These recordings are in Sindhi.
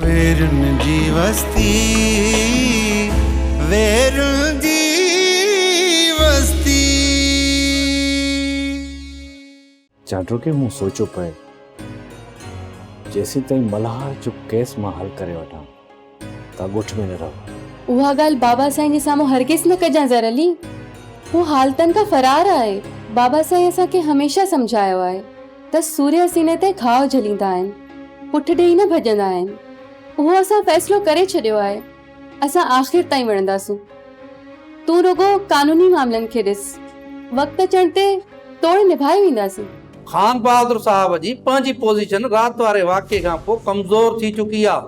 ويرن جي وستي ويرن جي وستي. جاڊوڪي مون سوچيو پئي جيسين تائين ملهار جو ڪيس مان حل ڪري وٺان ته ڳوٺ ۾ نه رهو. اها ڳالهه بابا سائين جي سامهون هرگز نه ڪجان زر علي. هو حالتن کان فرار آهي. بابا سائين اسان کي هميشه سمجهايو آهي. ته سورهيه سيني تي گهاء جهليندا آهن، پٺ ڏيئي نه ڀڄندا آهن. اهو اسان فيصلو ڪري ڇڏيو آهي، اسان آخر تائين وڙهنداسون. تون رڳو قانوني معاملن کي ڏس، وقت اچڻ تي توڙي نڀائي وينداسين. خان بهادر صاحب جي پنهنجي پوزيشن رات واري واقعي کان پوء ڪمزور ٿي چڪي آ.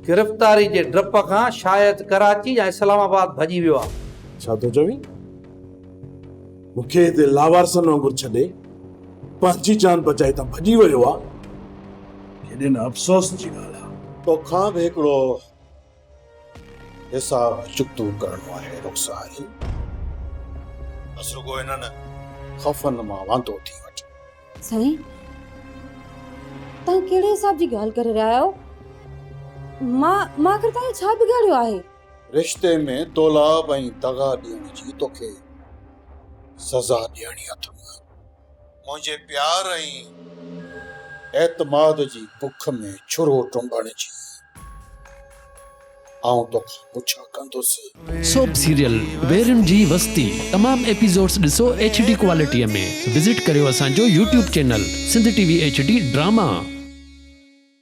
گرفتاري جي ڊپ کان شايد ڪراچي يا اسلام آباد ڀڄي ويو آ. ڇا ٿو چوين؟ مون کي هتي لاوارثن وانگر ڇڏي پنهنجي جان بچائي هتان ڀڄي ويو آ. ڪيڏي نه افسوس جي ڳالهه آ. توکان به هڪڙو حساب چڪتو ڪرڻو آهي رخسار. بس رڳو انهن خوفن مان واندو ٿي وٺ. سائين توهان ڪهڙي حساب جي ڳالهه ڪري رهيا آهيو. مان مان آخر توهان جو ڇا بگاڙيو آهي. رشتي ۾ دولاب ۽ دغا ڏيڻ جي توکي سزا ڏيڻي اٿم. منهنجي پيار ۽ اعتماد جي بک ۾ ڇرو ٽنبڻ جي آئون توکان پڇا ڪندس. سوپ سيريل ويرين جي وستي تمام ايپيسوڊس ڏسو ايڇ ڊي ڪوالٽي ۾ وزٽ ڪريو اسان جو YouTube channel Sindh T V H D drama.